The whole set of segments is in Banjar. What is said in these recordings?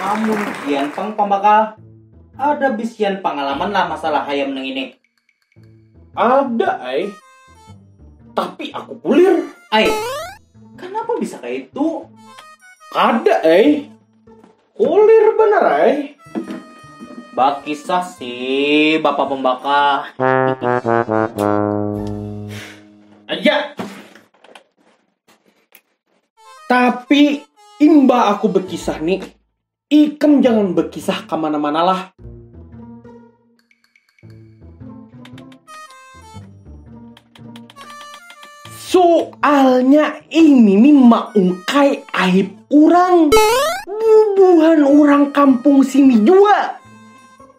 Amun pian pang pambakal, ada bisian pangalaman lah masalah hayam nang ini? Ada ai, tapi aku pulir. Ai, kanapa bisa kaya itu? Kada ai, kulir banar ai. Bakisah si bapak pembakal. Aja. Tapi imbah aku bekisah ni, ikam jangan bekisah ka mana-mana lah. Soalnya ini nih maungkai aib urang. Bubuhan urang kampung sini jua.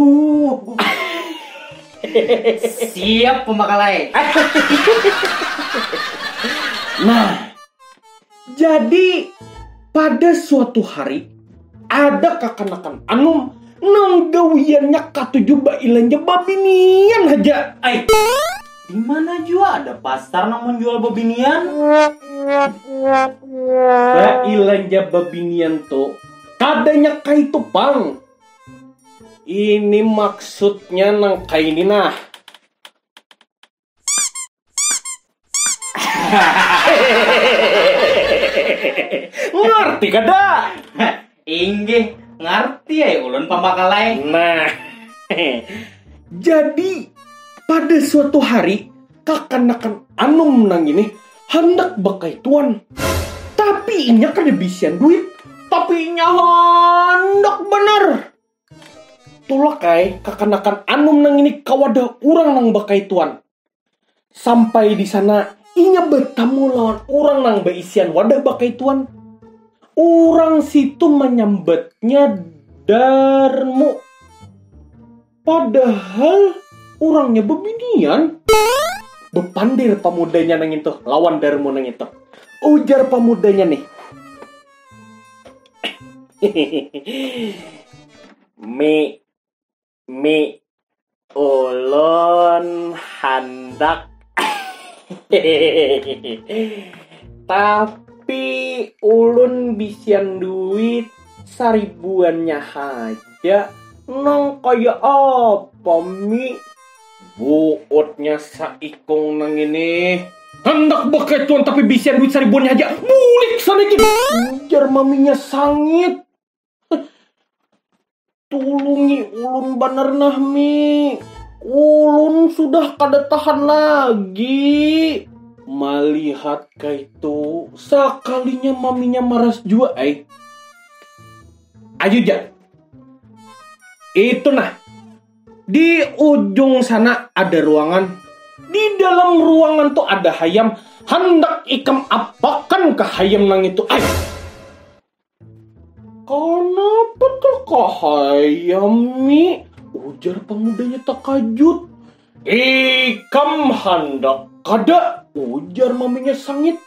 Uh. Siap pembakalai. nah, jadi pada suatu hari ada kakanakan anum nang gawiannya katuju bailanja babinian haja. Ay, di mana jua ada pasar nang menjual babinian? Bailanja babinian tu kadanya kaitu pang. Ini maksudnya nang kaini nah. Ngarti kada? Inggih, ngarti ai ulun pambakal ai. Nah, jadi pada suatu hari kakanakan anum nang ini handak bakaituan, tapi inya kada bisian duit. Tapi inya handak banar. Tulak ai kakanakan anum nang ini ka wadah urang nang bakaituan. Sampai di sana inya batamu lawan urang nang baisian wadah bakaituan. Urang situ manyambatnya Darmu. Padahal orangnya bebinian. Bepandir pamudanya nang itu lawan Darmo nang itu. Ujar pamudanya nih. mi, mi, ulun handak Tapi ulun bisian duit saribuannya haja nang kaya apa mi? Buutnya saikung nang ini. Handak bakaituan tapi bisian duit saribuannya haja. Bulik sana ikam. Ujar maminya sangit. Tulungi ulun banar nah, Mi. Ulun sudah kada tahan lagi. Malihat kaitu, sakalinya maminya maras jua ai. Ayu ja. Itu nah. Di ujung sana ada ruangan. Di dalam ruangan tu ada hayam. Handak ikam apakan ka hayam nang itu ai? Kanapa takahayam, Mi? ujar pamudanya takajut. Ikam handak kada? ujar maminya sangit.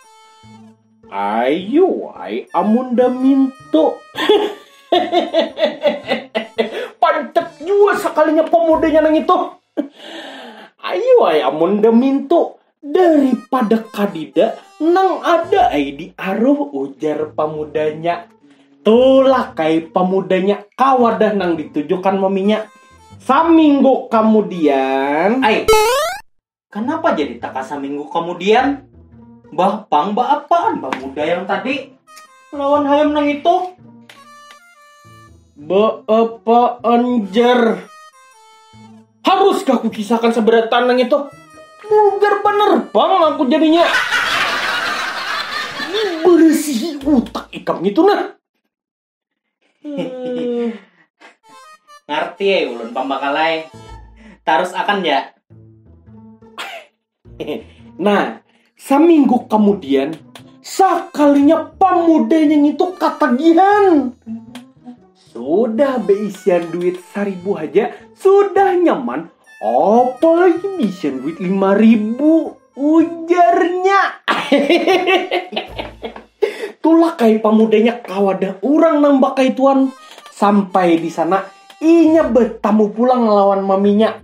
Ayu ai amun da mintu. Pancap jua sakalinya pamudanya nang itu. Ayu ai amun da mintu. Daripada kadida, nang ada ai di aruh ujar pamudanya. Tulak ai pamudanya ka wadah nang ditujukan maminya. Saminggu kamudian. Ai, kanapa jadi taka saminggu kamudian? Bah pang baapaan pamuda yang tadi lawan hayam nang itu? Baapaan jar? Haruskah kukisahkan saberat tanah itu? Vulgar banar pang aku jadinya. Diberesihi utak ikam itu nah. Hmm. Ngarti eh ulun pambakalai. Tarus akan ya. Nah, seminggu kemudian sekalinya pemudanya itu ketagihan. Sudah beisian duit seribu aja, sudah nyaman. Apalagi beisian duit lima ribu, ujarnya. Itulah kayak pemudanya kawadah orang nang bakaituan. Sampai di sana, inya bertamu pulang lawan maminya.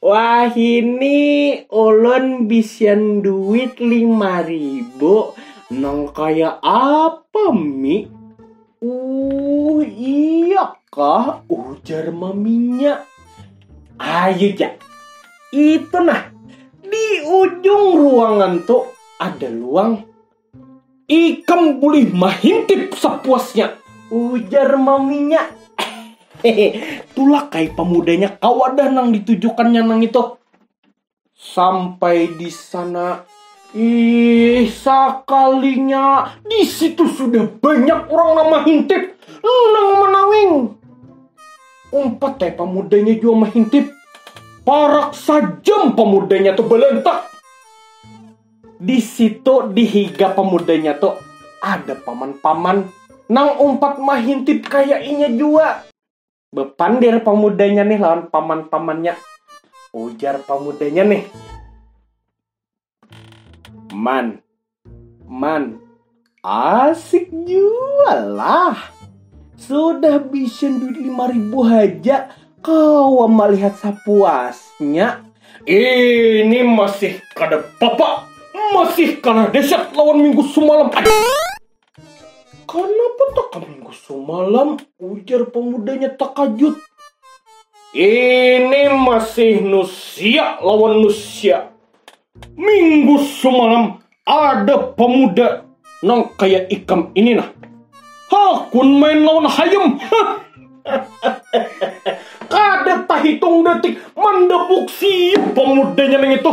Wahini ulun bisian duit lima ribu nang kaya apa mi? Uh iya kah ujar maminya. Ayu ja, itu nah di ujung ruangan tu ada luang. Ikam bulih mahintip sapuasnya, ujar maminya. Tulak ai pamudanya ka wadah nang ditujukannya nang itu. Sampai di sana, ih sakalinya di situ sudah banyak orang nang mahintip, nang manawing. Umpat ai pamudanya jua mahintip. Parak sajam pamudanya tu balantak. Di situ di higa pamudanya tu ada paman-paman nang umpat mahintip kaya inya jua. Bapandir pamudanya nih lawan paman-pamannya. Ujar pamudanya nih. Man, man, Asik jua lah. Sudah bisa duit lima ribu haja kau melihat sapuasnya. Ini masih kada papa, masih kalah deset lawan minggu sumalam. Kanapa taka minggu sumalam? ujar pamudanya takajut. Ini masih nusia lawan nusia. Minggu semalam ada pemuda nang kaya ikam ini nah. Hakun main lawan hayam. Kada tahitung detik mandebuk siap pemudanya nang itu.